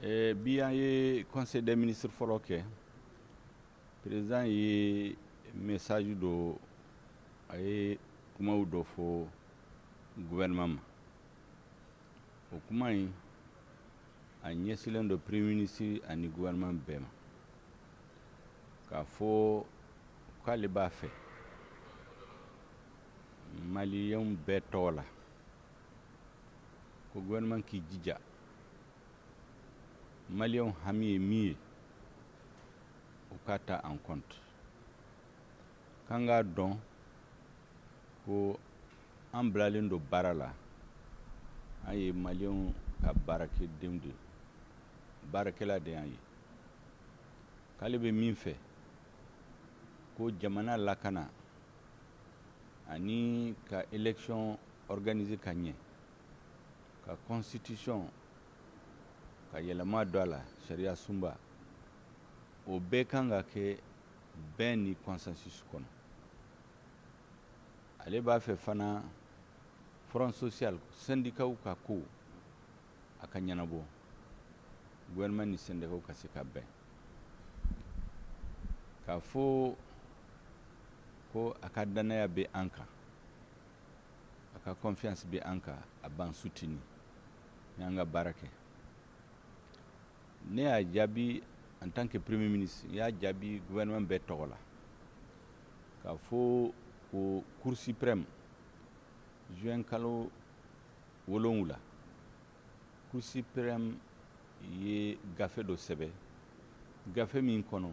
Eh, bi an ye conseil des ministres fɔlɔ kɛ président ye message dɔ a ye kumaw dɔ fɔ gouvernement ma o kuma in a ɲɛsilen don premier ministre ani gouvernement bɛɛ ma k'a fɔ k'ale b'a fɛ maliyɛnw bɛɛ tɔgɔ la ko gouvernement k'i jija maliyɛnw hami ye min ye u k'a ta en compte k'an k'a dɔn ko an bilalen don baara la an ye maliyɛnw ka baarakɛdenw de ye baarakɛla de y'an ye k'ale bɛ min fɛ ko jamana lakana ani ka election organiser ka ɲɛ ka constitution ka yɛlɛma don a la sariya sunba o bɛɛ kan ka kɛ bɛn ni consensus kɔnɔ ale b'a fɛ fana front social sɛndikaw ka ko a ka ɲɛnabɔ gouvernement ni syndicats ka se ka bɛn k'a fɔ ko a ka dannaya bɛ an kan a ka confiance bɛ an kan a b'an soutenir ni an ka baara kɛ ne y'a jaabi en tant que premier ministre n y'a jaabi gouvernement bɛɛ tɔgɔ la k'a fɔ ko cour suprême juin kalo Wolonwula, Cour suprême ye gafe dɔ sɛbɛ, gafe min kɔnɔ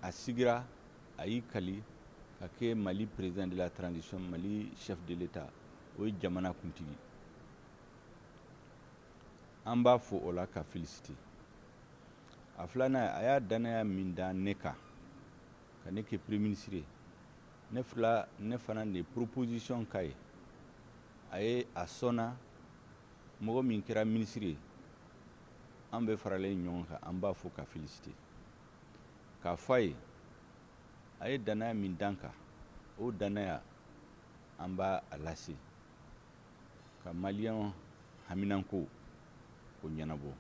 a sigira, a y'i kali ka kɛ Mali président de la transition, Mali chef de l'État, o ye jamana kuntigi. An b'a fo o la k'a féliciter. A filanan ye, a y'a dannaya min da ne kan ka ne kɛ premier ministre ye, Ne fila ne fana ne proposition kan ye a ye a sɔnna mɔgɔ min kɛra minisiri ye an bɛɛ faralen ɲɔgɔn kan an b'a fo k'a féliciter k'a fɔ a ye a ye dannaya min da an kan o dannaya an b'a a lase ka maliyɛnw haminanko o ɲɛnabɔ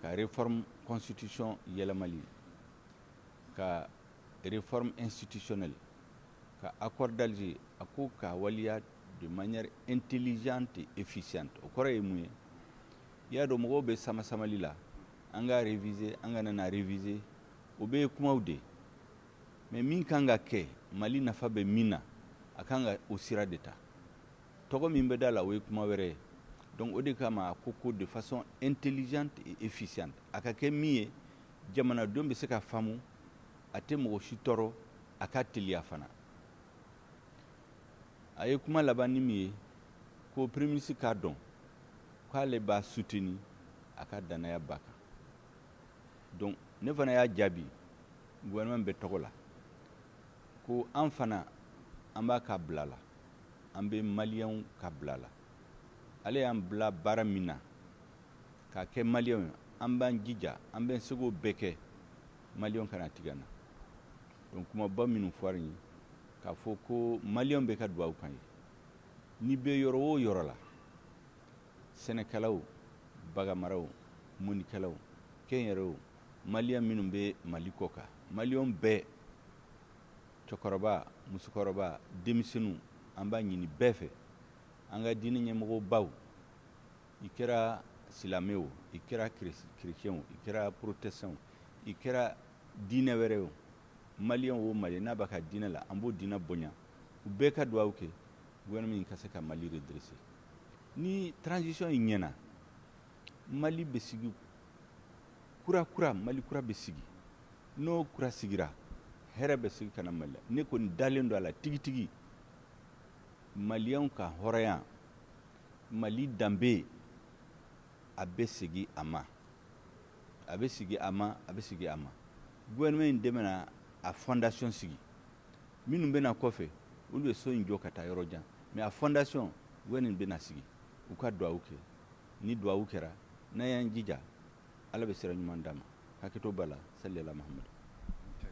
ka réforme constitution yɛlɛma ka Réforme institutionnelle ka accord d'Alger a ko k'a waleya de manière intelligente et efficiente o kɔrɔ ye mun ye i y'a dɔn mɔgɔw bɛ sama-samali la an k'a réviser an kana n'a réviser o bɛɛ ye kumaw de ye mais min kan ka kɛ Mali nafa bɛ min na a kan ka o sira de ta tɔgɔ min bɛ d'a la o ye kuma wɛrɛ ye donc o de kama a ko ko de façon intelligente et efficiente a ka kɛ min ye jamanadenw bɛ se k'a faamu A tɛ mɔgɔ si tɔɔrɔ, a ka teliya fana. A ye kuma laban ni min ye, ko Premier ministre k'a dɔn k'ale b'a soutenir a ka dannaya b'a kan. Donc, ne fana y'a jaabi gouvernement bɛɛ tɔgɔ la ko an fana an b'a ka bila la, an bɛ Maliens ka bila la. Ale y'an bila baara min na, K'a kɛ maliyɛnw ye, an b'an jija, an b'an seko bɛɛ kɛ maliyɛnw kana tigɛ an na. Donc kumaba minnu fɔra nin ye, k'a fɔ ko maliyɛnw bɛɛ ka duwawu k'an ye, n'i bɛ yɔrɔ o yɔrɔ la, sɛnɛkɛlaw, baganmaraw, mɔnikɛlaw, kɛnyɛrɛyew, maliyɛn minnu bɛ Mali kɔkan, maliyɛnw bɛɛ, cɛkɔrɔba, musokɔrɔba, denmisɛnninw, an b'a ɲini bɛɛ fɛ, an ka diinɛ ɲɛmɔgɔbaw, i kɛra silamɛ o i kɛra kirecɛn o i kɛra porotɛsitan o i kɛra diinɛ wɛrɛ o maliyɛn o maliyɛn n'a b'a ka diinɛ la an b'o diinɛ bonya u bɛɛ ka dugawu kɛ gouvernement ka se ka mali redresser ni transition in ɲɛna mali bɛ sigi kura kura mali kura bɛ sigi n'o kura sigira hɛrɛ bɛ segin ka na mali la ne kɔni dalen don a la tigitigi maliyɛnw ka hɔrɔnya Mali danbe, a bɛ segin a ma, a bɛ segin a ma, a bɛ segin a ma. Gouvernement in de bɛna a fondation sigi. Minnu bɛ na kɔfɛ, olu bɛ so in jɔ ka taa yɔrɔ jan. Mais a fondation, gouvernement in de bɛn'a sigi. U ka duwawu kɛ. Ni duwawu kɛra, n'an y'an jija, Ala bɛ sira ɲuman d'an ma. Hakɛto b'a la, sali ala Mahamadu.